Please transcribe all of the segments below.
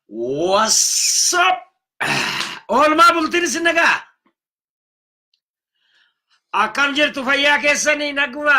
What's up? Oolmaa bultiin isin nagaa. Akkam jirtu fayyaa keessanii naguma.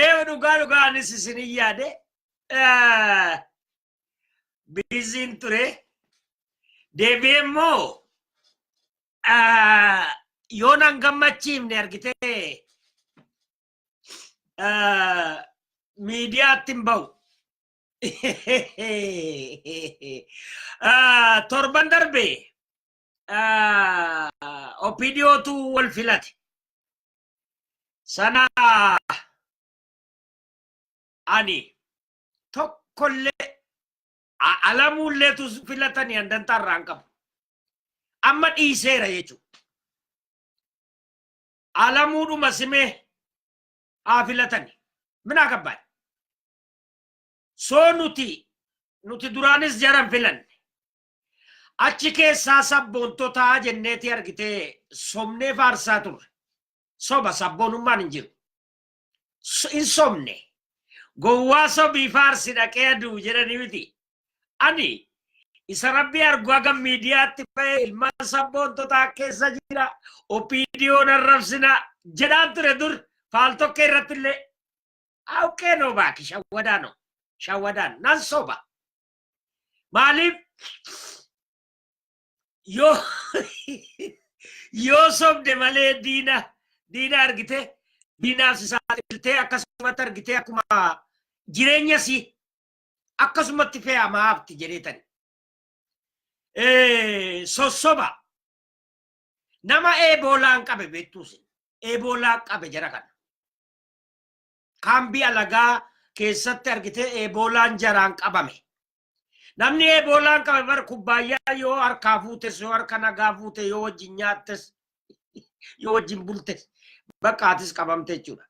Ee dhugaa dhugaa anis isin hin yaade biiziin ture deebi'ee immoo yoo nan gammachiifne argitee miidiyaatti hin ba'u. Torban darbe opidiyootu wal filate. Sana ani tokkollee alamuullee tus filatanii handantaa irraa hin qabu. Amma dhiiseera jechuudha. Alamuudhuma simee haa filatani. Minaa gabbaan. Soo nuti nuti duraanis jaran filanne. Achi keessaa sabboontotaa jenneetii argitee sobnee faarsaa turre. Soba sabboonummaan hin jiru. So- Hin sobne. Gowwaa sobii faarsi dhaqee aduu jedhanii miti. Ani isa rabbii argu haga miidiyaatti ba'ee ilmaan sabboontotaa keessa jira. Opiidiyoon arrabsina jedhaan ture dur faaltokkee irratti illee. Awqee noo baaki shawwadaa noo. Shawwadaan nan soba. Maaliif yoo yoo sobde malee diina diina argite diinaaf si saaxiltee akkasumatti argitee akkuma jireenya si akkasumatti fe'amaa hafti jedheetani. Sossoba nama eeboolaan qabe beektuusin eeboolaa qabe jara kana. kaambii alagaa keessatti argitee eeboolaan jaraan qabame. Namni eeboolaan qabame bara kubbaayyaa yoo harkaa fuutes yoo harka nagaa fuute yoo wajjin nyaattes yoo wajjin bultes bakka atis qabamte jechuudha.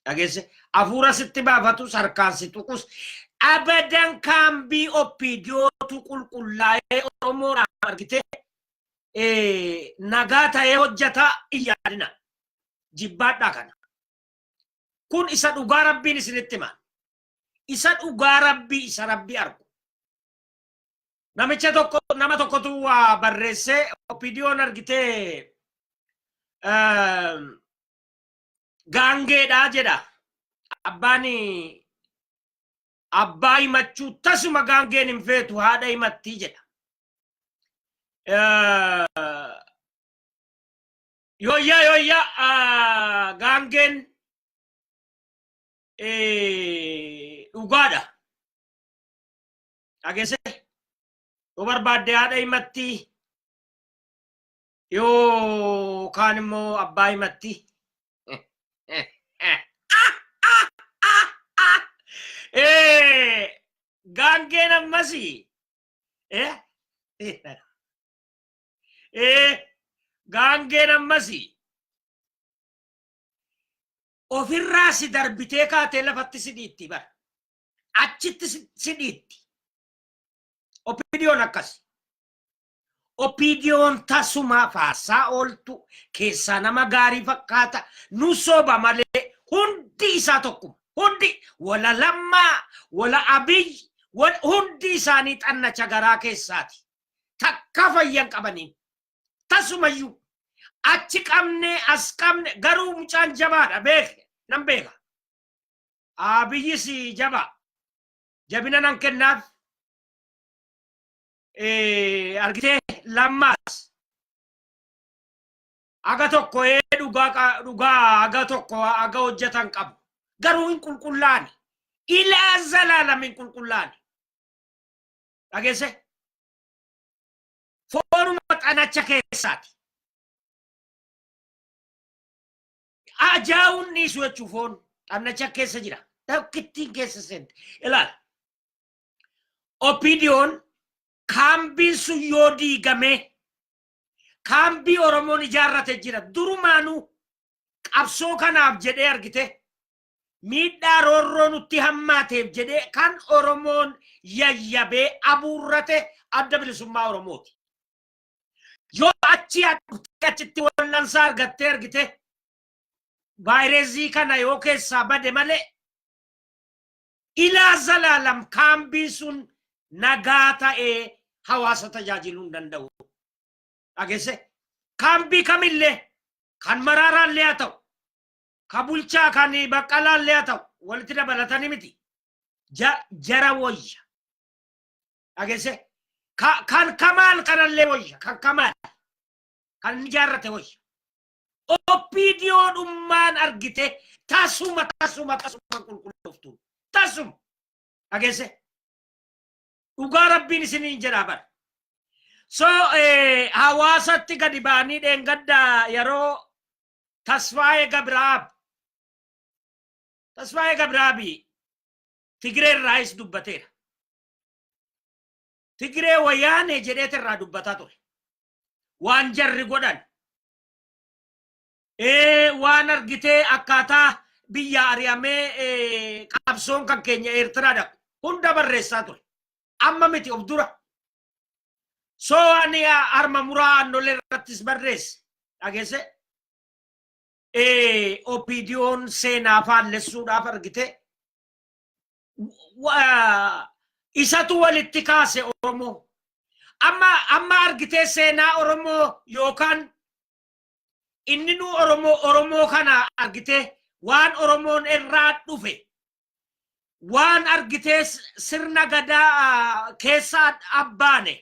Dhageesse hafuura sitti baafatus harkaan si tuqus abadan kaambii oppiidiyootu qulqullaa'ee Oromoodhaan argitee nagaa ta'ee hojjeta iyyaadina. Jibbaadhaa kana. kun isa dhugaa rabbiin isinitti himan isa dhugaa rabbii isa rabbii argu namicha tokko nama tokkotu waa barreessee opidiyoon argitee ehm, gaangeedhaa jedha abbaan abbaa himachuu tasuma gaangeen hin feetu haadha himattii jedha Eh, Yooyyaa yooyyaa ah, gaangeen eh, dhugaadha. Dhageessee yoo barbaadde haadha himatti yoo kaan immoo abbaa himatti. Eh, Gaangeen ammasi. Eh? ee gaangeen ammasi ofirraa si darbitee kaatee lafatti si dhiitti bara achitti si- si dhiitti opidiyoon akkasi opidiyoon tasumaa faarsaa ooltu keessaa nama gaarii fakkaata nu soba malee hundi isaa tokkuma hundi wala lammaa wala abiy wal- hundi isaanii xannacha garaa keessaati takkaa fayyan qabaniin tasumayyuu achi qabne as qabne garuu mucaan jabaadha beeke nan beeka abiyyis jabaa jabina nan kennaaf argitee lammaas aga tokko ee dhugaa dhugaa aga tokko aga hojjetan qabu garuu hin qulqullaani ilaa zalaalam hin qulqullaani dhageesse foonuma xanacha keessaati ajaa'uun dhiisu jechuu foon xannacha keessa jira tokkittiin keessa seente ilaala opidiyoon kaambiin sun yoo diigamee kaambii oromoon ijaarrate jira durumaanuu qabsoo kanaaf jedhee argite miidhaa roorroo nutti hammaateef jedhee kan Oromoon yayyabee abuurrate adda bilisummaa Oromooti. Yoo achi adhuttee achitti wal'ansaa argattee argite vaayirezii kana yoo keessaa bade malee ilaa zalaalam kaambiin sun nagaa ta'ee hawaasa tajaajiluu hin danda'u. Dhageesse kaambii kamillee kan maraaraallee haa ta'u ka bulchaa kan baqqalaan lee haa ta'u walitti dabalatanii miti Ja- jara woyya dhageesse Ka- kan kamaal kanallee woyya kan kamaal kan inni jaarrate woyya oppiidiyoodhummaan argite tasuma tasuma tasuma qulqullooftu tasuma dhageesse dhugaa rabbiin isiniin jedhaa bara so eh, hawaasatti gadi ba'anii dheengadda yeroo Tasfaayee Gabiraab. Tasfaayee Gabiraabi Tigiree irraayis dubbateera. Tigiree wayaanee jedheet irraa dubbataa ture. Waan jarri godhan. Ee waan argitee akkaataa biyya ari'amee qabsoon kan keenya Eertiraadha. Hunda barreessaa ture. Amma miti of dura. So ani arma muraa annolee irrattis barreesse dhageesse. Opiidiyoon seenaa faallessuudhaaf argite. Isatu walitti kaase Oromoo. Amma amma argitee seenaa Oromoo yookaan inni nu Oromoo Oromoo kana argitee waan Oromoon irraa dhufe waan argitee sirna gadaa keessaa abbaane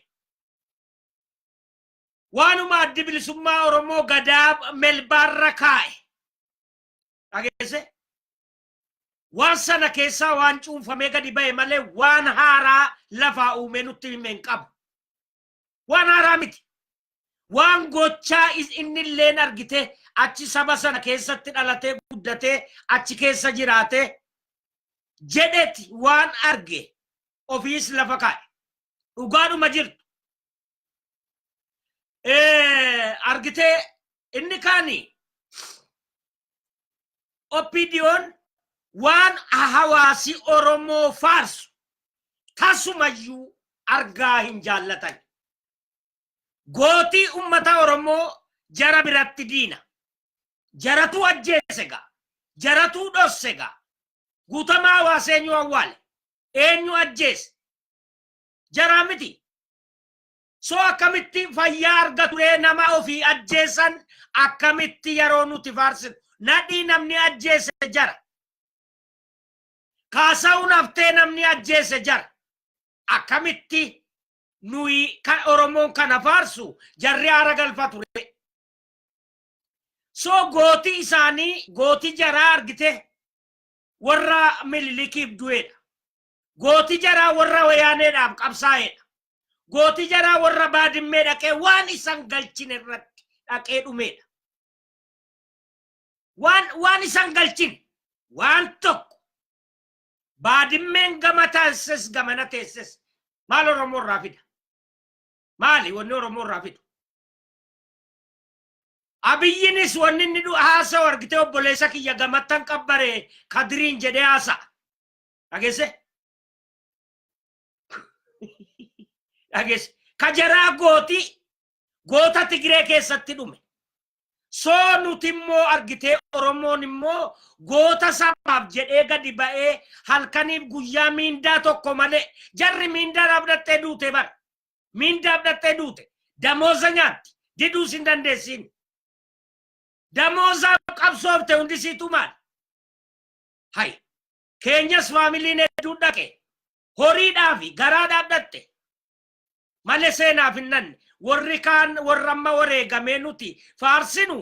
waanuma addi bilisummaa Oromoo gadaa melbaarra kaa'e dhageesse waan sana keessaa waan cuunfamee gadi ba'e malee waan haaraa lafaa uumee nutti himeen qabu. Waan haaraa miti. Waan gochaa is- inni illeen argitee achi saba sana keessatti dhalatee guddatee achi keessa jiraatee jedheti waan arge ofiis lafa kaa'e. Dhugaadhuma jirtu. Eh, Argitee inni kaani OPDOn waan hawaasi Oromoo faarsu tasumayyuu argaa hin jaallatan. Gootii ummata Oromoo jara biratti diina. Jaratuu ajjeese gaa. Jaratuu dhosse gaa. Guutamaa hawaasa eenyu awwaale. Eenyu ajjeese. Jaraa miti. So akkamitti fayyaa argatu ree nama ofii ajjeessan akkamitti yeroo nuti faarsinu nadhii namni ajjeesse jara. Kaasa'uun haftee namni ajjeesse jara. Akkamitti nuyi kan Oromoon kana faarsu jarri haara galfatu ree. So gooti isaanii gooti jaraa argite warra mililikiif du'eedha. Gooti jaraa warra wayaaneedhaaf qabsaa'eedha. Gooti jaraa warra baadimmee dhaqee waan isan galchin irratti dhaqee dhumeedha. Waan waan isan galchin waan tokko baadimmeen gama taasises gamana teesses maal Oromoo irraa fida? Maali wanni Oromoo irraa fidu? Abiyyinis wanni inni haasa'u argitee obboleessa kiyya gamattan qabbaree kadiriin jedhee haasa'a. dhageesse dhageesse ka jaraa gooti goota tigiree keessatti dhume soo nuti immoo argitee oromoon immoo goota sabaaf jedhee gadi ba'ee halkaniif guyyaa miindaa tokko malee jarri miindaa dhaabdattee duute bara miindaa dhaabdattee duute damooza nyaatti diduus hin dandeessiin damoozaaf qabsoofte hundisiitu maal hay keenyas faamiliin hedduun dhaqe horiidhaa fi garaa dhaadhatte malee seenaaf hin nanne warri kaan warra amma wareegamee nuti faarsinu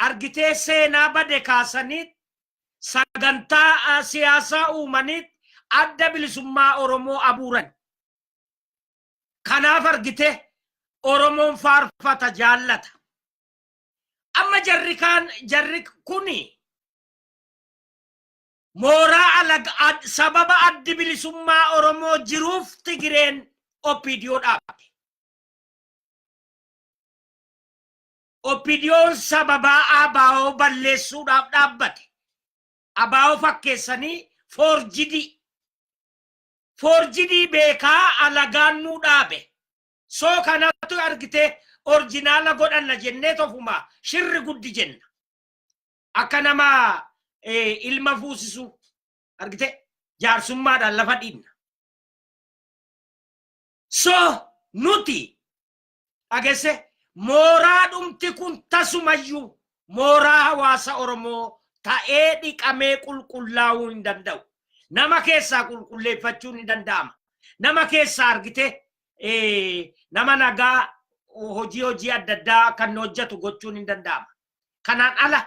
argitee seenaa bade kaasaniit sagantaa ah, siyaasaa uumaniit adda bilisummaa Oromoo abuuran. Kanaaf argite Oromoon faarfata jaallata. Amma jarri kaan jarri kuni Mooraa alag ad sababa addi bilisummaa Oromoo jiruuf Tigireen OPDO dhaabde. OPDOn sababaa ABO balleessuudhaaf dhaabbate. ABO fakkeessanii foorjidii. Foorjidii beekaa alagaan nuu dhaabe. Soo kanattu argitee orjinaala godhanna jennee tofuma shirri guddi jenna. akka nama eh, ilma fuusisuu argite jaarsummaadhaan lafa dhiibna. So nuti dhagesse mooraa dhumti kun tasumayyuu mooraa hawaasa Oromoo ta'ee dhiqamee qulqullaa'uu hin danda'u. Nama keessaa qulqulleeffachuun ni danda'ama. Nama keessaa argite eh, nama nagaa hojii hojii adda addaa kan hojjetu gochuun hin danda'ama. Kanaan ala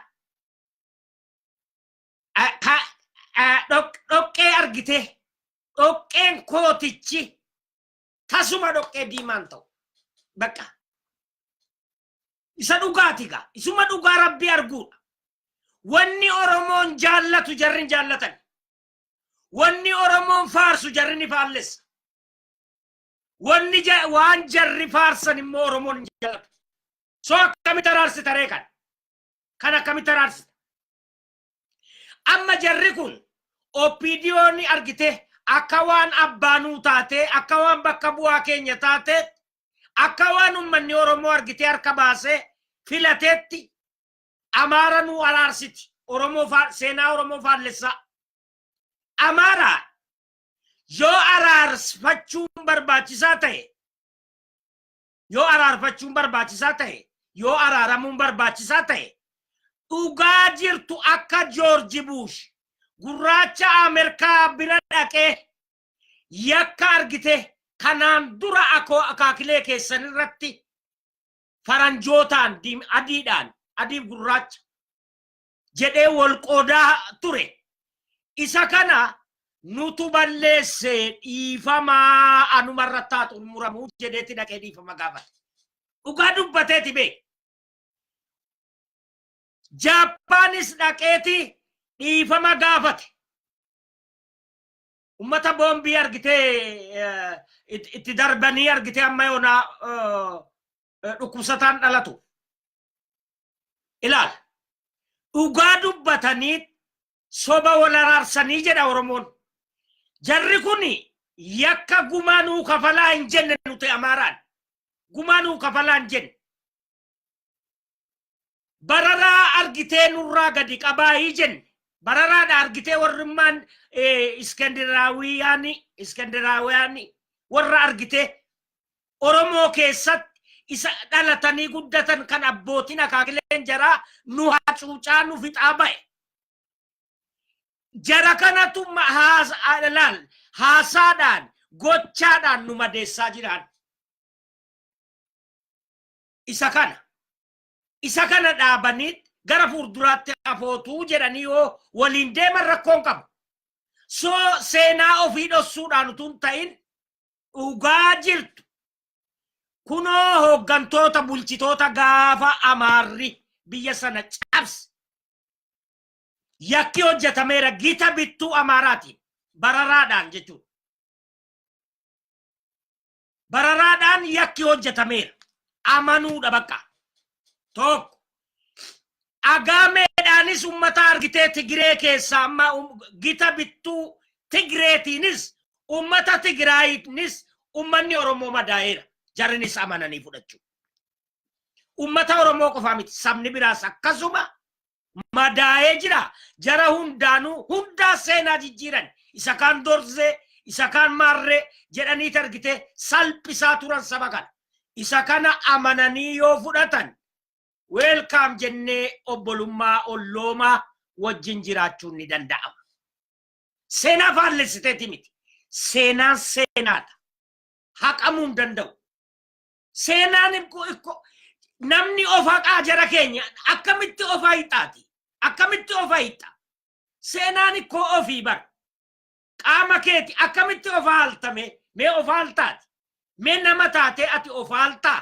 dhoqqee argitee dhoqqeen kootichi tasuma dhoqqee diimaan ta'u bakka isa dhugaati gaa isuma dhugaa rabbii arguudha wanni oromoon jaallatu jarri hin jaallatan wanni oromoon faarsu jarri ni faallessa Wanni ja- waan jarri faarsan immoo Oromoon hin jaallatu. So akkamitti araarsita ree kan? Kan akkamitti araarsita? Amma jarri kun OPDO ni argite akka waan abbaanuu taatee akka waan bakka bu'aa keenya taatee akka waan ummanni Oromoo argitee harka baasee filateetti Amaara nuu araarsiti. Oromoo faa- seenaa Oromoo faallessaa. Amaara Yoo araarfachuun barbaachisaa ta'e yoo araarfachuun barbaachisaa ta'e yoo araaramuun barbaachisaa ta'e dhugaa jirtu akka Joorji Buush gurraacha Ameerikaa bira dhaqee yakka argite kanaan dura akoo akaakilee keessan irratti faranjootaan diim adiidhaan adiif gurraacha jedhee wal qoodaa ture isa kana nutu balleesse dhiifamaa anuma irratti haa xumuramu jedheeti dhaqee dhiifama gaafate dhugaa dubbateeti bee jaappaanis dhaqeeti dhiifama gaafate ummata boombii argitee eh, it- itti darbanii argitee amma yoonaa eh, eh, dhukkubsataan dhalatu ilaal dhugaa dubbatanii soba wal araarsanii jedha oromoon jarri kun yakka gumaa nuu kafalaa hin jenne nuti amaaraan gumaa nuu kafalaa hin jenne bararaa argitee nurraa gadi qabaayii jenne bararaadha argitee warrimmaan iskandinaawiyaani iskandinaawiyaani warra argitee Oromoo keessatti isa dhalatanii guddatan kan abbootiin akaakileen jaraa nu hacuucaa nu fixaa ba'e. Jara kanatu laal haasaadhaan gochaadhaan nu madeessaa jiraan. Isa kana. Isa kana dhaabanii gara fuulduraatti hafootuu jedhanii yoo waliin deeman rakkoon qabu. So seenaa ofii dhossuudhaan utuu hin ta'in dhugaa jirtu kunoo hooggantoota bulchitoota gaafa amaarri biyya sana cabse yakki hojjetameera gita bittuu amaaraatiin bararaadhaan jechuudha. Bararaadhaan yakki hojjetameera amanuudha bakka tokko Agaameedhaanis ummata argitee Tigiree keessaa amma gita bittuu Tigireetiinis ummata Tigiraayiinis ummanni Oromoo madaa'eera. Jarinis amananii fudhachuu. Ummata Oromoo qofaa miti sabni biraas akkasuma madaa'ee jira. Jara hundaanuu hundaa seenaa jijjiiran isa kaan dorzee isa kaan maarree jedhanii argitee salphisaa turan saba kana. Isa kana amananii yoo fudhatan Welcome jennee obbolummaa olloomaa wajjin jiraachuun ni danda'ama. Seenaa faallessiteeti miti. Seenaan seenaadha. Haqamuu hin danda'u. Seenaan ikko- ikko- namni of haqaa jara keenya akkamitti of hiixaati? Akkamitti of hiixa? Seenaan ikkoo ofii bara. Qaama keeti akkamitti of haaltame? Mee of haaltaati? Mee nama taatee ati of haaltaa?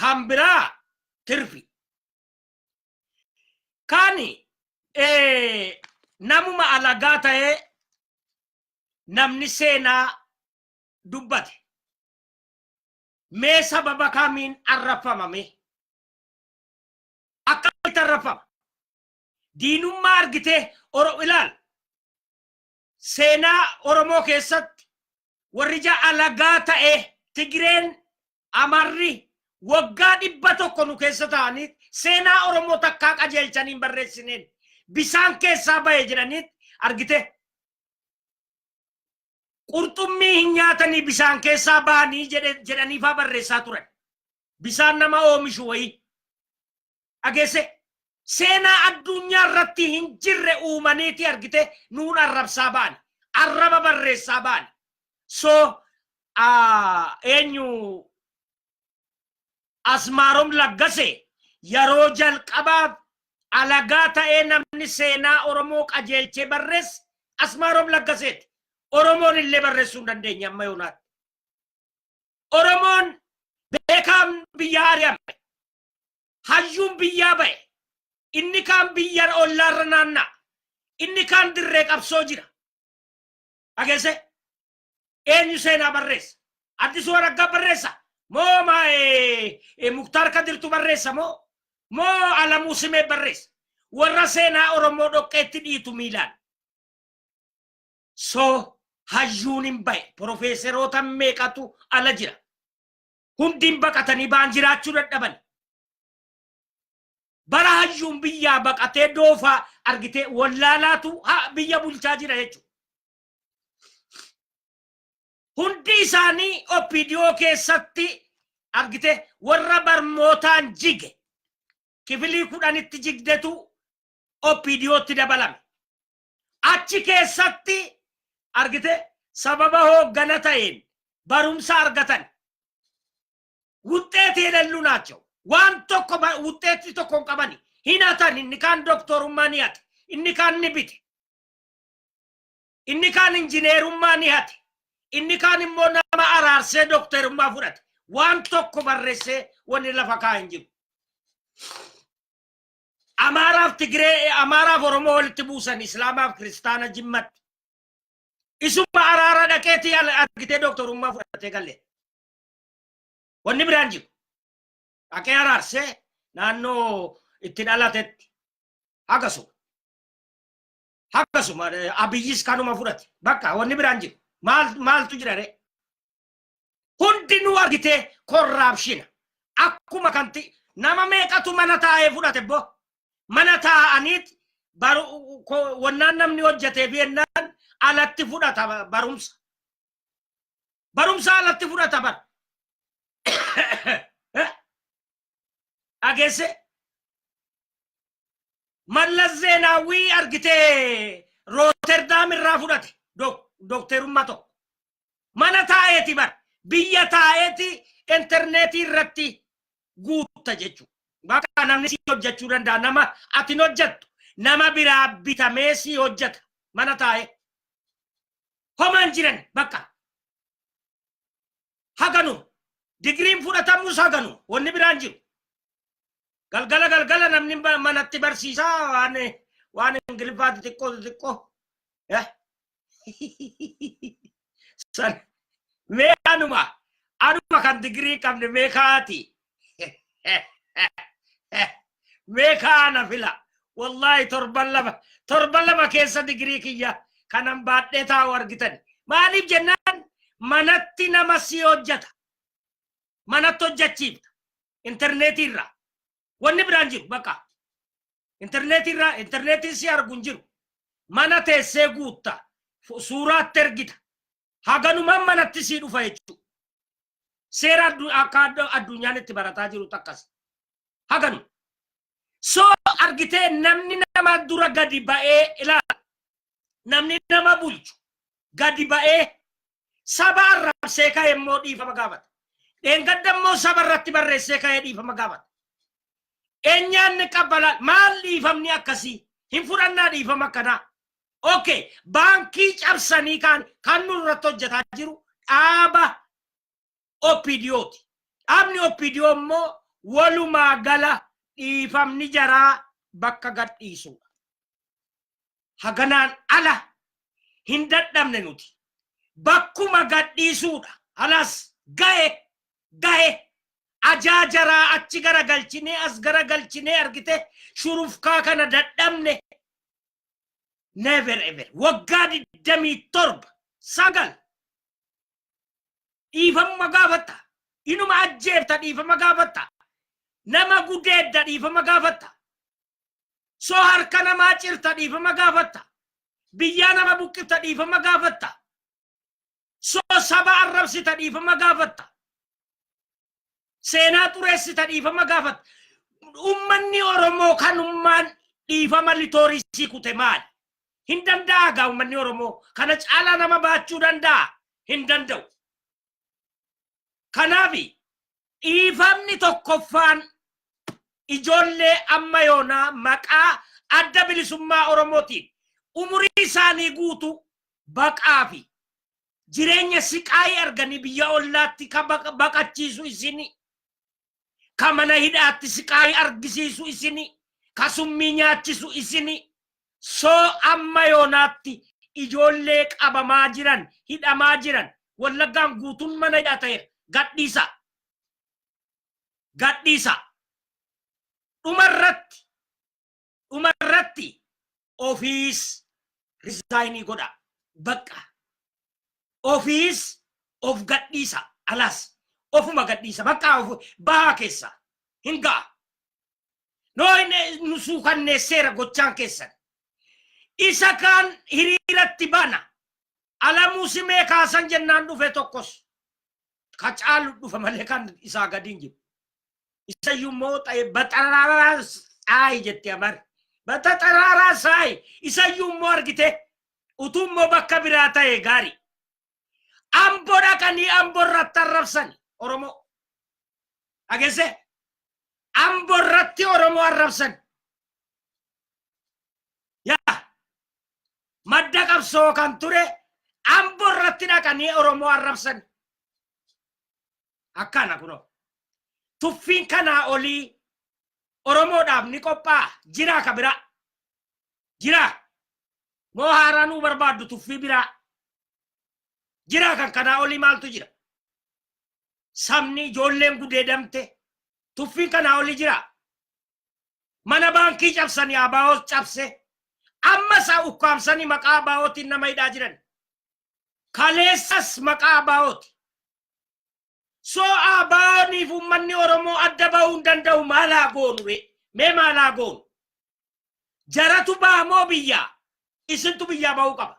kan biraa tirfi kan namuma alagaa ta'ee namni seenaa dubbate mee sababa kamiin arrabsamame akkamitti arrabsama diinummaa argitee oro ilaal Seenaa Oromoo keessatti warri ija alagaa ta'e Tigireen, Amarri waggaa dhibba tokko nu keessa ta'anii seenaa Oromoo takkaa qajeelchanii hin barreessineen bisaan keessaa bahe jedhanii argite. Qurxummii hin nyaatanii bisaan keessaa bahanii jedhe- jedhaniifaa barreessaa turan. Bisaan nama oomishu wayii. dhageesse seenaa addunyaa irratti hin jirre uumaniiti argite nuun arrabsaa baani arraba barreessaa baani so ah, eenyu asmaarom laggase yeroo jalqabaaf alagaa ta'ee namni seenaa oromoo qajeelchee barreesse asmaarom laggaseeti oromoon illee barreessuu hin dandeenye amma yoonaatti oromoon beekaan biyya ari'ame hayyuun biyyaa ba'e inni kaan biyya ollaarra naanna'a inni kaan dirree qabsoo jira dhageesse eenyu seenaa barreessa addisuu araggaa barreessa moo maa eh, eh, muktaar kadirtu barreessa moo moo alamuu simee barreessa warra seenaa oromoo dhoqqeetti dhiitu miilaan so hayyuun hin ba'e profeeseroota meeqatu ala jira hundiin baqatanii ba'an jiraachuu dadhaban. Bara hayyuun biyyaa baqatee doofaa argitee wallaalaatu ha- biyya bulchaa jira jechuudha. Hundi isaanii OPDO keessatti argitee warra barmootaan jige kifilii kudhanitti jigdetu OPDOtti dabalame. Achi keessatti argite sababa hooggana ta'een barumsa argatan wuxxeeti yelellu naachoo waan tokko ba- wuxxeetti tokko hin qabani hin hatan inni kaan doktorummaa ni hate inni kaan ni bite inni kaan injineerummaa ni hate inni kaan immoo nama araarsee doktorummaa fudhate waan tokko barreessee wanni lafa kaa hin jiru Amaaraaf Tigree, Amaaraaf Oromoo walitti buusan Islaamaaf Kiristaana Jimmatti. Isuma araara dhaqeetii al- argitee dooktorummaa fudhatee galee. Wanni biraan jiru. Dhaqee araarsee naannoo itti dhalatetti akkasuma. Akkasuma eh, abiyyis kanuma fudhate. Bakka wanni biraan jiru. Maal- Maaltu jira ree? hundinuu argitee korraapshina akkuma kanti nama meeqatu mana taa'ee fudhate boo mana taa'aniit baru ko- wannaan namni hojjetee fi ennaan alatti fudhata ba- barumsa barumsa alatti fudhata bar dhageesse mallas zeenaawwii argitee rooterdaam irraa fudhate dok- dokteerummaa tokko Mana taa'eeti bar biyya taa'eeti interneetii irratti guutta jechuudha. Bakka namni si hojjechuu danda'a nama ati hin hojjettu nama biraa bitamee si hojjeta mana taa'ee. Homaan jiran bakka haganu digiriin fudhatamus haganu wanni biraan jiru. Galgala galgala namni ma- manatti barsiisaa waan waan ingiliffaa xixiqqoo xixiqqoo. Eh. San mee anuma anuma kan digirii hin qabne mee kaati. Mee kaana fila. Wallaahi torban lama torban lama keessa digirii kiyya kanan baadhee taa'u argitan. Maaliif jennaan manatti nama si hojjeta. Manatti hojjechiifta. interneetii irraa wanni biraan jiru bakka interneetii irraa interneetiin si argu hin jiru mana teessee guutta fu- suuraatti ergita haganumaan manatti sii dhufa jechuudha seera addu- akka addu- addunyaan itti barataa jiru takkas haganu so argitee namni nama dura gadi ba'ee ilaala namni nama bulchu gadi ba'ee Saba arrabsee ka'e immoo dhiifama gaafata. Dheengadda immoo saba irratti barreessee ka'ee dhiifama gaafata. Eenyaanni qabbalaa maal dhiifamni akkasii hin fudhannaa dhiifama akkanaa. Okay, baankii cabsanii kaan kan nurratti hojjetaa jiru dhaaba OPDO ti. Dhaabni OPDO immoo walumaa gala dhiifamni jaraa bakka gad dhiisuudha. Haganaan ala hin dadhabne nuti. Bakkuma gad dhiisuudha. Halas gahe gahe ajaa jaraa achi gara galchinee as gara galchinee argite shurufkaa kana dadhabne never ever waggaa digdamii torba sagal dhiifama gaafatta inuma ajjeefta dhiifama gaafatta nama gudeedda dhiifama gaafatta so harka namaa cirta dhiifama gaafatta biyyaa nama buqqifta dhiifama gaafatta so saba arrabsita dhiifama gaafatta Seenaa xureessita dhiifama gaafata. Ummanni Oromoo kan ummaan dhiifama litoorii sii kute maali? Hin danda'a gaa ummanni Oromoo kana caalaa nama baachuu danda'a? Hin danda'u. Kanaaf dhiifamni tokkoffaan ijoollee amma yoonaa maqaa adda bilisummaa Oromootiin umurii isaanii guutuu baqaa fi jireenya siqaayii arganii biyya ollaatti ka baqa- baqachiisu isini ka mana hidhaatti siqaayii argisiisu isini ka summii nyaachisu isini soo amma yoonaatti ijoollee qabamaa jiran hidhamaa jiran wallaggaan guutuun mana hidhaa ta'eera gadhiisa gadhiisa dhuma irratti dhuma irratti ofiis risaayinii godha bakka ofiis of gadhiisa alaas ofuma gadhiisa bakka of bahaa keessa hin ga'a noo nu suukanneesseera gochaan keessan isa kaan hiriiratti bana alamuu simee kaasan jennaan dhufe tokkos ka caalu dhufa malee kan isaa gadiin jiru isayyuu immoo ta'e baxaraaraa saayi jette amar baxaraaraa saayi isayyuu immoo argite utuu immoo bakka biraa ta'e gaarii ambo dhaqanii ambo irratti arrabsan oromoo agesse ambo irratti oromoo arrabsan yaa madda qabsoo kan ture ambo irratti dhaqanii oromoo arrabsan Akkana kunoo. Tuffiin kanaa olii Oromoodhaaf ni qophaa'a. Jiraa ka biraa. Jiraa. Moo haaraa nuu barbaaddu tuffii biraa. Jiraa kan kanaa olii maaltu jira? Sabni ijoolleen gudeedamte tuffiin kanaa olii jiraa. Mana baankii cabsanii abaawoos cabse. Amma isaa ukkaamsanii maqaa abaawootiin nama hidhaa jiran. Kaleessas maqaa ABOti. So ABOniif ummanni Oromoo adda bahuu hin danda'u maal haa goonu ree? Mee maal haa goonu? Jaratu baha moo biyyaa? Isintu biyyaa bahuu qaba.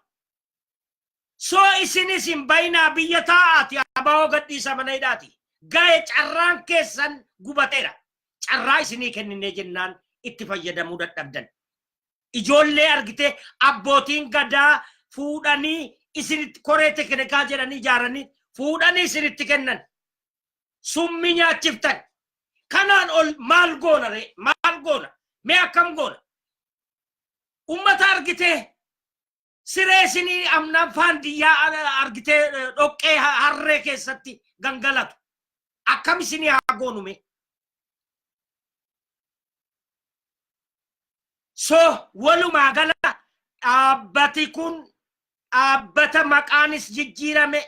So isinis hin bayinaa biyya taa'aati ABO gadhiisa mana hidhaati. Gahe carraan keessan gubateera. Carraa isinii kenninee jennaan itti fayyadamuu dadhabdan. Ijoollee argitee abbootiin gadaa fuudhanii isinitti koree tekinikaa jedhanii ijaaranii fuudhanii isinitti kennan. Summii nyaachiftan. Kanaan ol maal goona ree? Maal goona? Mee akkam goona? Ummata argitee siree isinii amnaan faandiyyaa a- argitee eh, dhoqqee ha- harree keessatti gangalatu akkam isinii haa goonume so walumaa gala dhaabbati kun dhaabbata maqaanis jijjiirame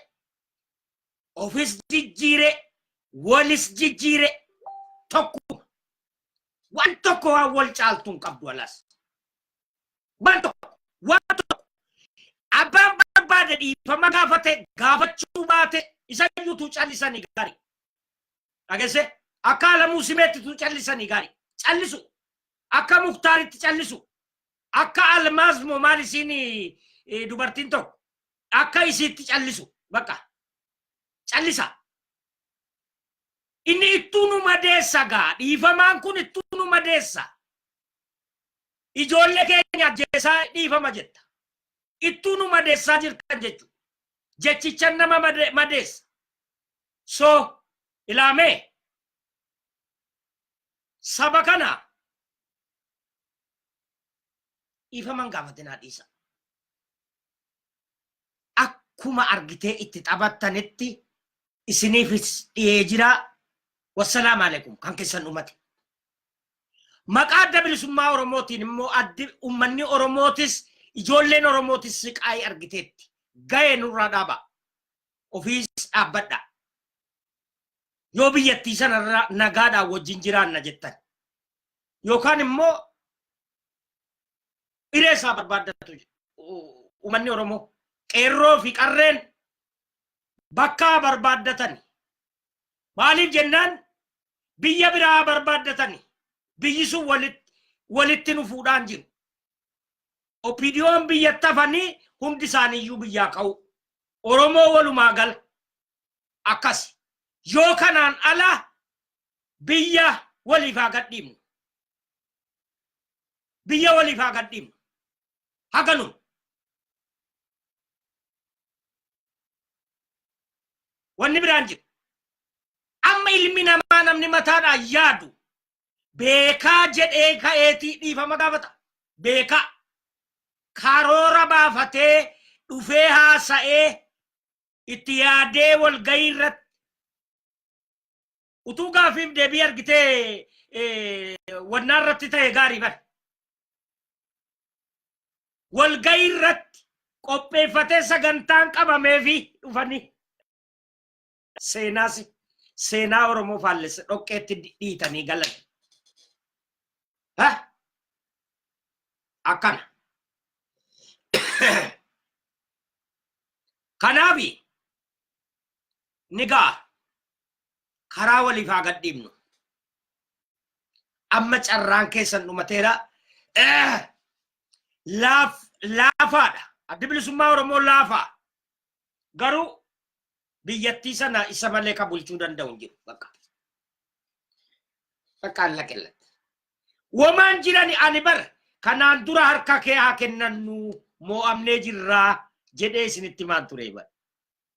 ofis jijjiire walis jijjiire tokkuma waan tokko waan wal caaltuun qabdu alas Waan tokko waan tokko abbaan barbaade dhiifama gaafate gaafachuu baate isa iyyuutu callisanii gaarii. Dhagesse akka alamuu simeettitu callisanii gaarii. Callisu akka muktaaritti callisu akka almaaz moo maal isiin eh, dubartiin tokko akka isiitti callisu bakka callisa. Inni ittuu nu madeessa gaa dhiifamaan kun ittuu nu madeessa. Ijoollee keenya ajjeesaa dhiifama jetta. Ittuu nu madeessaa jirtan jechu. Jechichan nama made- madeessa. So ilaamee saba kana dhiifaman gaafatinaa dhiisa. Akkuma argitee itti taphattanitti isiniifis dhiyee jira. Wassalaamu alaikum kan keessan dhumate. Maqaa Adda Bilisummaa Oromootiin immoo addi ummanni Oromootis ijoolleen Oromootis siqaayii argiteetti. Ga'ee nurraa dhaaba. Ofiis dhaabbadha. Yoo biyyattii sanarra nagaadhaan wajjin jiraanna jettan. Yookaan immoo hiree isaa barbaaddatu ummanni Oromoo qeerroo fi qarreen bakka barbaaddatani. Maaliif jennaan biyya biraa barbaaddatani biyyi sun walitti walitti nu fuudhaan jiru. Opidiyoon biyyatti hafanii hundi isaaniiyyuu biyyaa ka'u. Oromoo walumaa gala akkasi. Yoo kanaan ala biyya waliif haa gadhiifnu. Biyya waliif haa gadhiifnu. Haganuma. Wanni biraan jira. Amma ilmi namaa namni mataadhaan yaadu beekaa jedhee ka'eetii dhiifama gaafata. Beekaa. Karoora baafatee dhufee haasa'ee itti yaadee walgahii irratti utuu gaafiif deebii argitee wannaa irratti ta'e gaarii bar. Walgahii irratti qopheeffatee sagantaan qabamee fi dhufanii seenaas seenaa Oromoo faallessa dhoqqeetti dhiitanii galan. Akkana. Kanaafi ni ga'a. karaa waliif haa gadhiifnu. Amma carraan keessan dhumateera. Eh, laaf, laafaadha. Addi bilisummaa Oromoo laafaa. Garuu biyyattii sana isa malee kan bulchuu danda'u hin jiru. Bakka. Bakka alla qillatti. Womaan jirani ani bar kanaan dura harka kee haa kennannu moo'amnee jirraa jedhee isinitti maan ture bar.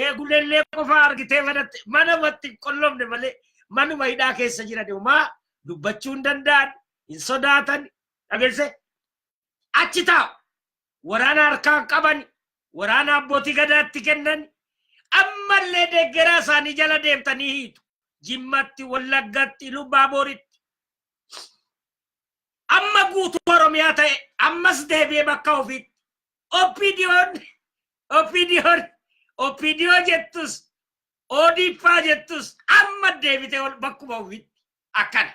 eegulellee qofaa argitee manatti mana matti hin qollomne malee manuma hidhaa keessa jiran homaa dubbachuu hin danda'an hin sodaatan dhageesse achi taa'u waraana harkaa hin qaban waraana abbootii gadaatti kennan ammallee deeggaraa isaanii jala deemtanii hiitu jimmatti wallaggatti lubbaa booritti amma guutuu oromiyaa ta'e ammas deebi'ee bakka ofiitti OPDOn OPDOn OPDO jettus ODPaa jettus amma deebitee ol bakkuma ofitti akkana.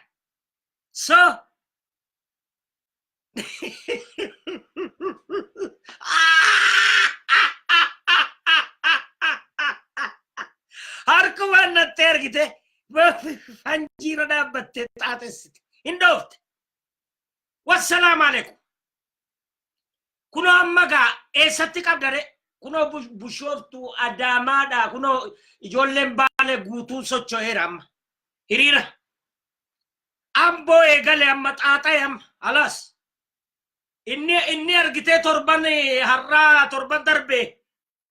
So harkumaan natti ergite fanjiirra dhaabbattee xaaxessite hin dhoofte. Wassalaam alaikum. Kunoo amma gaa eessatti qabdare? Kunoo bush- bushooftuu adaamaadha. Kunoo ijoolleen baale guutuun socho'eera amma. Hiriira. Amboo eegale amma xaaxa'e amma. Alaas. Inni inni argitee torban eh, har'aa torban darbe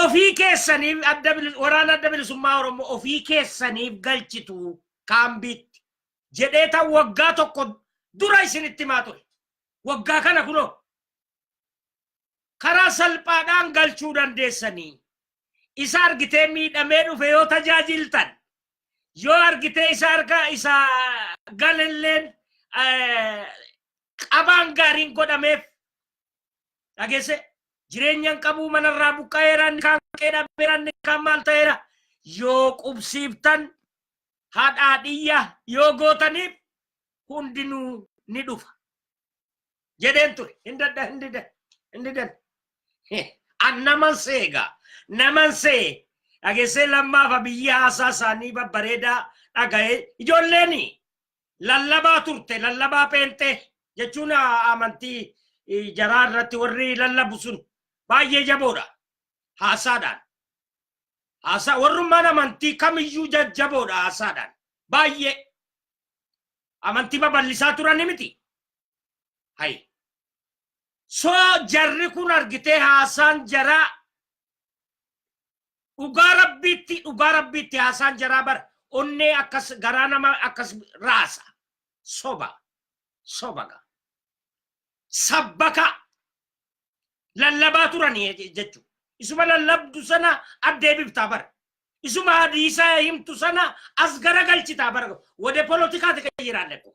ofii keessaniif adda bilis- waraana adda bilisummaa Oromoo ofii keessaniif galchitu kaambiitti jedhee tan waggaa tokko dura isinitti himaa ture. Waggaa kana kunoo karaa salphaadhaan galchuu dandeessanii isa argitee miidhamee dhufe yoo tajaajiltan yoo argitee isa arga isa galalleen eh, qabaan gaariin godhameef dhagesse jireenyan qabuu manarraa buqqa'eera inni kaan qe'ee dhabeera inni kaan maal ta'eera yoo qubsiiftan haadhaa dhiyya yoo gootaniif hundinuu ni dhufa jedheen ture hin dadha hin dida hin didan an naman seegaa naman see dhagessee lammaafa biyyi haasaa isaanii babbareedaa dhaga'ee ijoolleeni lallabaa turte lallabaa pheenxee jechuun amantii jaraa irratti warri lallabu sun baay'ee jaboodha haasaadhaan haasaa warrummaan amantii kamiyyuu jajjaboodha haasaadhaan baay'ee amantii babal'isaa turani miti hay so jarri kun argitee haasaan jaraa Dhugaa rabbiitti dhugaa rabbiitti haasaan jaraa bara onnee akkas garaa nama akkas raasa soba soba ga sabbaka lallabaa turanii je- jechu isuma lallabdu sana addeebiftaa bara isuma hadiisaa himtu sana as garagalchitaa bara wade polotikaati kan jiraanne kun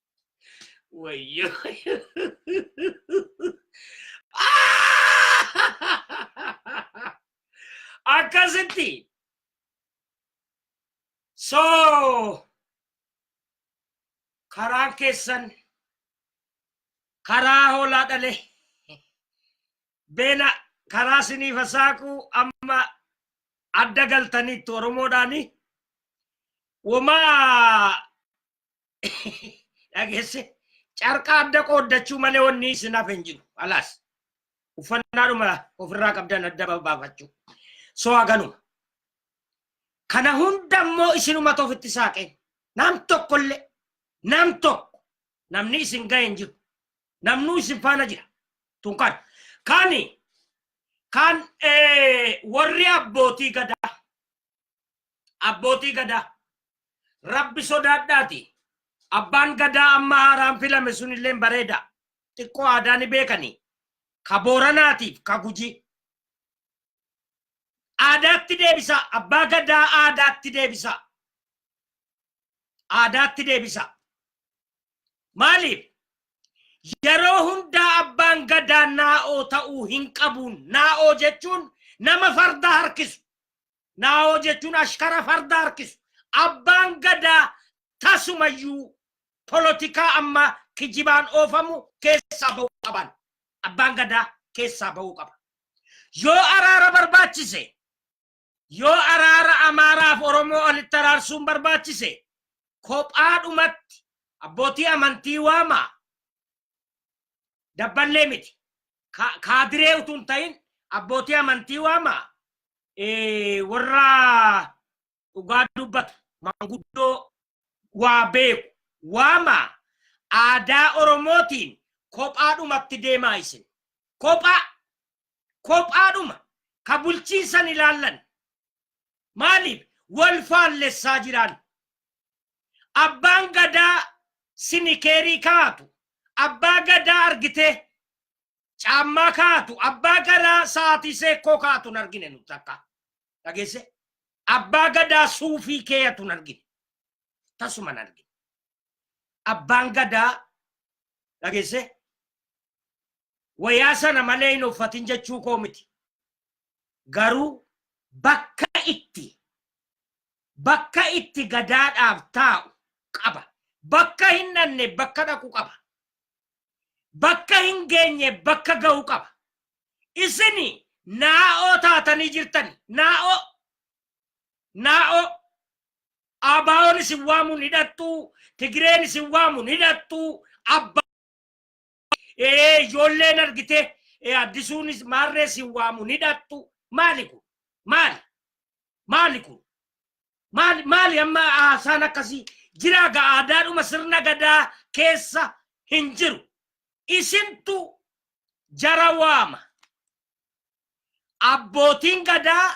Wayyo. Akkasitti. So karaan keessan karaa hoolaa dhale beela karaa siniif saaqu amma adda galtaniittu oromoodhaani. Womaa dhageesse carqaa adda qooddachuu malee wanni isin hafe hin jiru alaas uffannaadhuma ofirraa qabdan adda baafachuu soo haganuma kana hunda immoo isinumatu ofitti saaqee nam tokkollee nam tokko namni isin ga'e hin jiru namnuu isin faana jira tun kan kani kan eh, warri abbootii gadaa Abbootii gadaa. Rabbi sodaadhaati. Abbaan gadaa amma haaraan filame sunilleen bareeda. Xiqqoo aadaa ni beekani. Ka Booranaatiif ka Gujii. Aadaatti deebisaa. Abbaa gadaa aadaatti deebisaa. Aadaatti deebisaa. Maaliif? Yeroo hundaa abbaan gadaa naa'oo ta'uu hin qabuun naa'oo jechuun nama farda harkisu Naawoo jechuun ashkara farda harkisu. Abbaan gadaa tasumayyuu polotikaa amma kijibaan oofamu keessaa ba'uu qaban. Abbaan gadaa keessaa ba'uu qaba. Yoo araara barbaachise, yoo araara Amaaraaf Oromoo walitti araarsuun barbaachise, kophaadhumatti abbootii amantii waamaa, Dabballee miti. Ka- Kaadiree utuu hin ta'in abbootii amantii waama eh, warra dhugaa dubbatu manguddoo waa beeku waama aadaa Oromootiin kophaadhumatti deemaa isin. Kophaa kophaadhuma ka bulchiinsan ilaallan maaliif wal faallessaa jiraan Abbaan gadaa sinikeerii kaa'atu, abbaa gadaa argitee caammaa kaa'atu, abbaa gadaa sa'aatii seekkoo kaa'atu hin argine nu takka. Dhageesse? Abbaa gadaa suufii keeyatu hin argine. Tasuma hin argine. Abbaan gadaa dhageesse wayaa sana malee hin uffatin jechuu koo miti. Garuu bakka itti bakka itti gadaadhaaf taa'u qaba. Bakka hin dhanne bakka dhaqu qaba. Bakka hin geenye bakka ga'u qaba. Isini naa'oo taatanii jirtan naa'oo naa'oo abaawoon isin waamuun hidhattuu tigireen isin waamuun hidhattuu abbaa ee ijoolleen argitee ee addisuunis maarree si waamu ni dhaqxu maali kun maali maali kun maali maali amma haasaan akkasii jiraa ga aadaadhuma sirna gadaa keessa hin jiru isintu jara waama abbootiin gadaa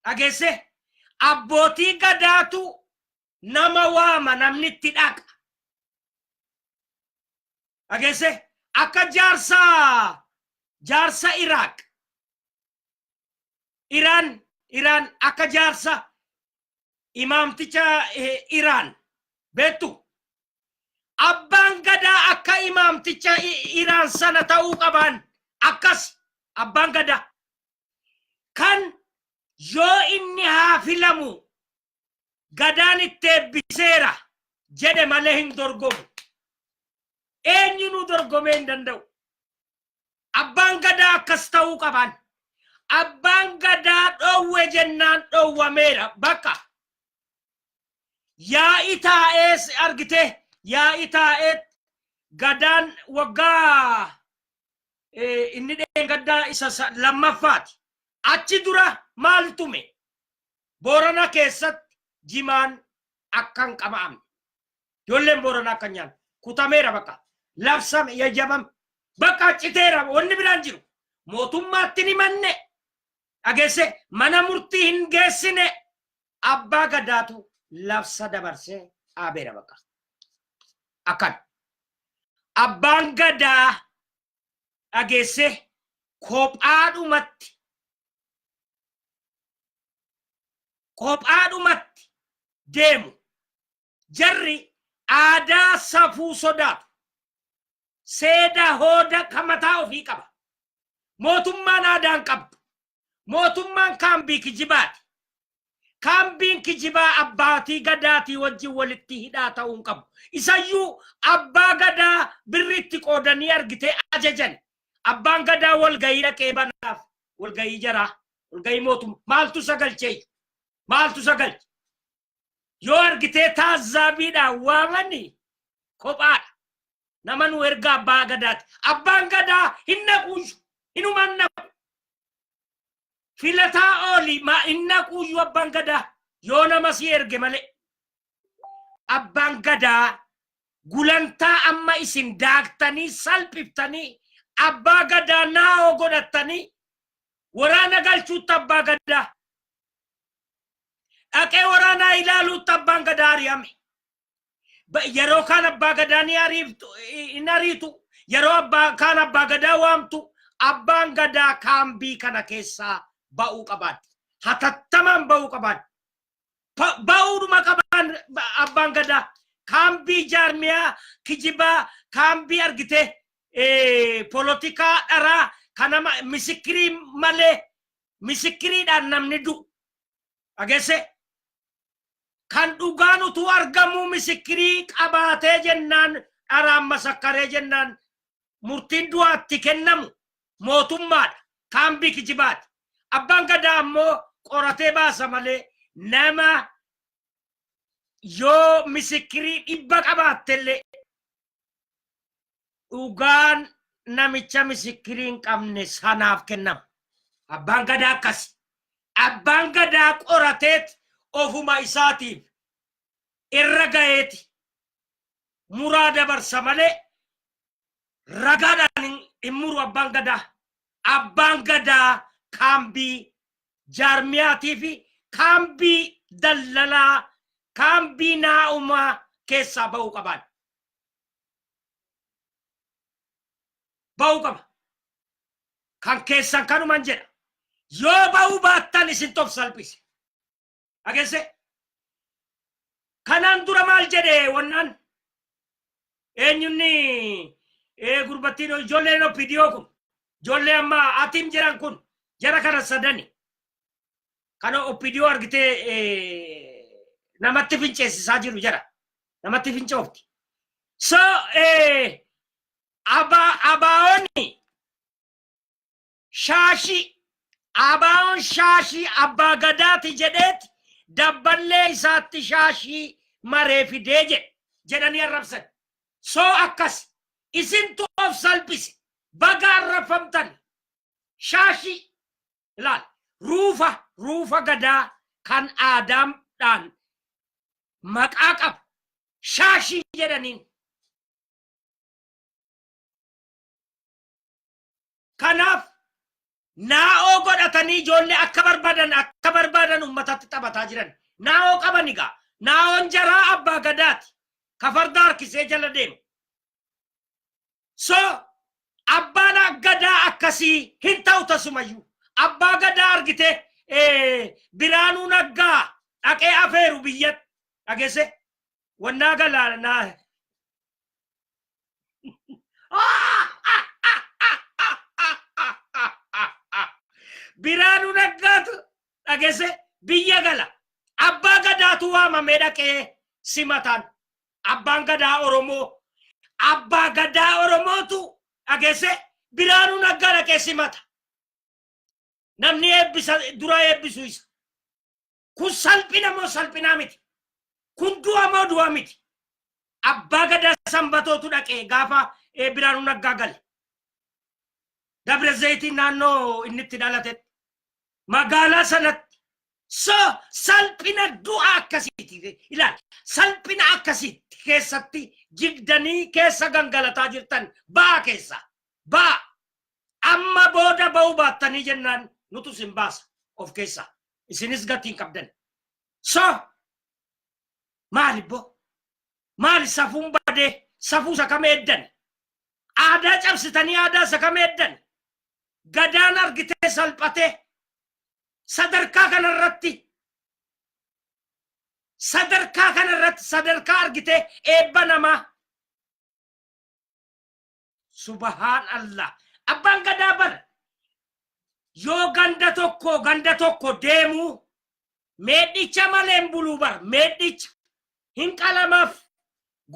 dhageesse abbootii gadaatu nama waama namni itti dhaqa dhageesse akka jaarsa jaarsa iraaq iraan iraan akka jaarsa imaamticha eh, iraan beektu abbaan gadaa akka imaamticha i- iraan sana ta'uu qabaan akkas abbaan gadaa kan yoo inni haa filamu gadaan itti eebbiseera jedhe malee hin dorgomu. Eenyunuu dorgomee hin danda'u. Abbaan gadaa akkas ta'uu qaban. Abbaan gadaa dhoowwe jennaan dhoowwameera bakka. Yaa'i taa'ees argite yaa'i taa'ee gadaan waggaa inni dheengaddaa isa lammaffaati. Achi dura maal tume? Boorana keessatti jimaan akka hin qama'amne. Ijoolleen Booranaa akka hin nyaanne. Kutameera bakka. Labsame, yayyabame. Bakka citeera wanni biraan jiru. Mootummaatti hin himanne. Dhageesse mana murtii hin geessine. Abbaa gadaatu labsa dabarsee dhaabeera bakka. Akkan. Abbaan gadaa dhageesse kophaadhumatti kophaadhumatti deemu. Jarri aadaa safuu sodaatu. Seeda hooda kan mataa ofii qaba. Mootummaan aadaan qabdu. Mootummaan kaambii kijibaati. Kaambiin kijibaa abbaatii gadaatii wajjin walitti hidhaa ta'uu hin qabu. Isayyuu abbaa gadaa birri itti qoodanii argitee ajajan. Abbaan gadaa walgahii dhaqee banaaf walgahii jaraa walgahii mootummaa maaltu isa galcheeyyu maaltu isa galche yoo argitee taazzaabiidhaan waamani kophaadha nama nu erga abbaa gadaati abbaan gadaa hin naquuyyu hinumaan naqu filataa ooli ma hin naquuyyu abbaan gadaa yoo nama si erge malee abbaan gadaa gulantaa amma isin daaktanii salphiftanii abbaa gadaa naa'oo godhattanii waraana galchuutti abbaa gadaa dhaqee waraanaa ilaaluutti abbaan gadaa ari'ame. Ba- Yeroo kaan abbaa gadaa ni ariiftu hin ariitu yeroo abbaa kaan abbaa gadaa waamtu abbaan gadaa kaambii kana keessaa ba'uu qabaadha. Hatattamaan ba'uu qabaadha. Pa- ba'uudhuma qabaan ba- abbaan gadaa kaambii jaarmiyaa kijibaa kaambii argite eh, polotikaa dharaa kanama misikirii malee misikiriidhaan namni du'u dhagesse kan dhugaan utuu argamuu misikirii qabaatee jennaan dharaan masakkaree jennaan murtiin du'aa itti kennamu mootummaadha. Kaambii kijibaati. Abbaan gadaa ammoo qoratee baasa malee nama yoo misikirii dhibba qabaattellee dhugaan namicha misikirii hin qabne sanaaf kennama. Abbaan gadaa akkasi. Abbaan gadaa qorateet ofuma isaatiif irra gaheeti muraa dabarsa malee ragaadhaan hin- hin muru abbaan gadaa. Abbaan gadaa kaambii jaarmiyaatii fi kaambii daldalaa kaambii naa'umaa keessaa ba'uu qabaan. Ba'uu qaba. Kan keessan kanuman jedha. Yoo ba'uu baattan isin tof salphise. Dhagesse? Kanaan dura maal jedhe wannaan? Eenyunni gurbattiin ijoolleen OPDO kun ijoollee amma atim jedhan kun jara kana sadani. Kana OPDO argitee namatti finceessisaa jiru jara. Namatti fincoofti. So abaawoonni Shaashii, Abaawoon shaashii abbaa gadaati jedheeti dabballee isaatti shaashii maree fidee jedhe jedhanii arrabsan. So akkasi. Isintu of salphise. Baga arrabfamtan. Shaashii. Ilaal. Ruufa, ruufa gadaa kan aadaam dhaan maqaa qabu. Shaashii jedhaniin. Kanaaf naa'oo godhatanii ijoollee akka barbaadan akka barbaadan ummatatti taphataa jiran. Naa'oo qaban egaa. Naa'oon jaraa abbaa gadaati. Ka farda harkisee jala deemu. So abbaan gadaa akkasii hin ta'u tasumayyuu. Abbaa gadaa argitee eh, biraanuu naggaa dhaqee afeeru biyyatti dhagese. wannaa galaana naa biraanu naggaatu dhagese biyya gala abbaa gadaatu waamamee dhaqee simataan abbaan gadaa oromoo abbaa gadaa oromootu dhagese biraanu naggaa dhaqee simata namni eebbisa dura eebbisu isa Kun salphina moo salphinaa miti? Kun du'a moo du'a miti? Abbaa gadaa sanbatootu dhaqee gaafa eh, Biraanuu Naggaa gale. Dabra Zayitii naannoo inni itti dhalatetti. Magaalaa sanatti. So salphina du'a akkasiiti. Ilaali. Salphina akkasiitti keessatti jigdanii keessa gangalataa jirtan ba'a keessa. Ba'a. Amma booda ba'uu baattanii jennaan nutu sin baasa of keessaa. isinis gatii hin qabdan so maali bo maali safuun badee safuu isa kam eeddan aadaa cabsitanii aadaa isa kam eeddan gadaan argitee salphatee sadarkaa kana irratti sadarkaa kana irratti sadarkaa argitee eebba namaa Subahaan Allah. Abbaan gadaa bar yoo ganda tokko ganda tokko deemu meedhicha malee hin buluu bar meedhicha hin qalamaaf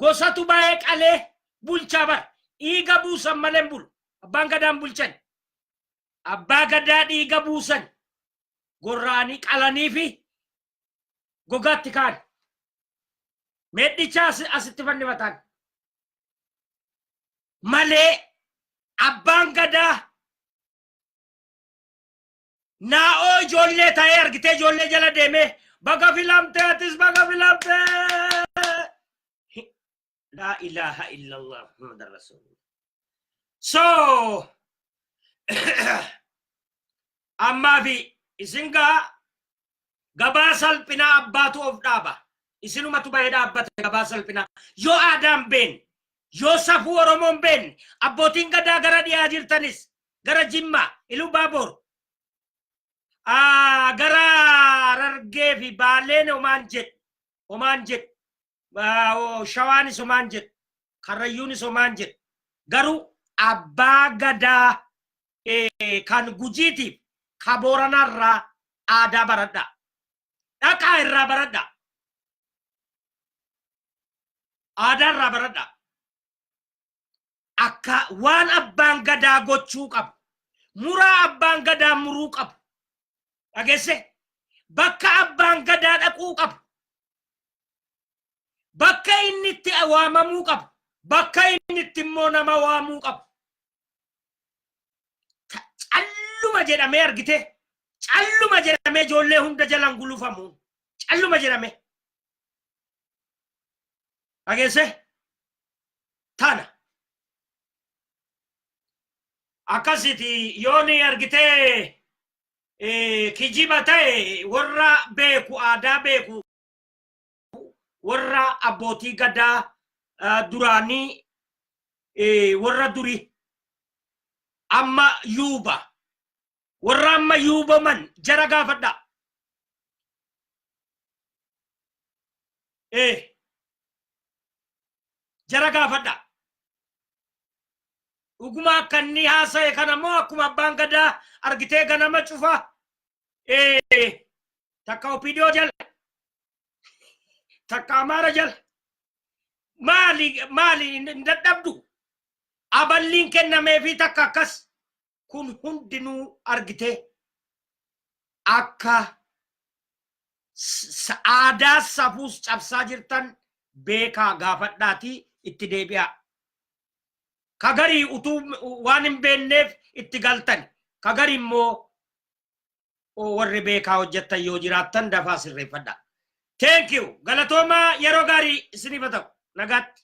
gosatu baay'ee qalee bulchaa bar dhiiga buusan malee hin bulu abbaan gadaan bulchan abbaa gadaa dhiiga buusan gorraanii qalanii fi gogaatti kaan meedhicha asi- asitti fannifataan malee abbaan gadaa naa'oo ijoollee ta'ee argitee ijoollee jala deemee baga filamtee atis baga filamtee laa ilaaha illallah muhammad rasuulullah so ammaa fi isin gaa Gabaa salphinaa abbaatu of dhaaba. Isinumatu bahee dhaabbata gabaa salphinaa. Yoo aadaan beenne, yoo safuu Oromoon beenne, abbootiin gadaa gara dhiyaa jirtanis, gara Jimmaa, Iluu Baaboor, ah, gara Harargee fi Baaleen homaan jedhu, homaan jedhu, ah, oh, Shawaanis homaan jedhu, Karrayyuunis homaan jedhu. Garuu abbaa gadaa kan gujiitiif ka booranaa irraa aadaa baradha dhaqaa irraa baradha aadaa irraa baradha akka waan abbaan gadaa gochuu qabu muraa abbaan gadaa muruu qabu dhagesse bakka abbaan gadaa dhaquu qabu bakka inni itti waamamuu qabu bakka inni itti immoo nama waamuu qabu calluma jedhamee argite calluma jedhamee ijoollee hunda jalan gulufamu calluma jedhamee dhageesse tana akkasiti yooni argitee kijiba ta'e warra beeku aadaa beeku warra abbootii gadaa eh, duraanii eh, warra duri amma yuuba warra amma yuubaman jara gaafadha eh, jara gaafadha dhuguma akka inni haasa'e kana moo akkuma abbaan gadaa argitee ganama cufa Eh, takka opidoo jala takka amaara jala maali maali hin dadhabdu aballiin kennameefi takka akkas kun hundinuu argitee akka s- aadaa safuus cabsaa jirtan beekaa gaafadhaatii itti deebi'aa ka garii utuu waan hin beekneef itti galtan ka garii immoo oo warri beekaa hojjettan yoo jiraattan dafaa sirreeffadha. Thank you. Galatoomaa yeroo gaarii isiniif haa ta'u. Nagaatti.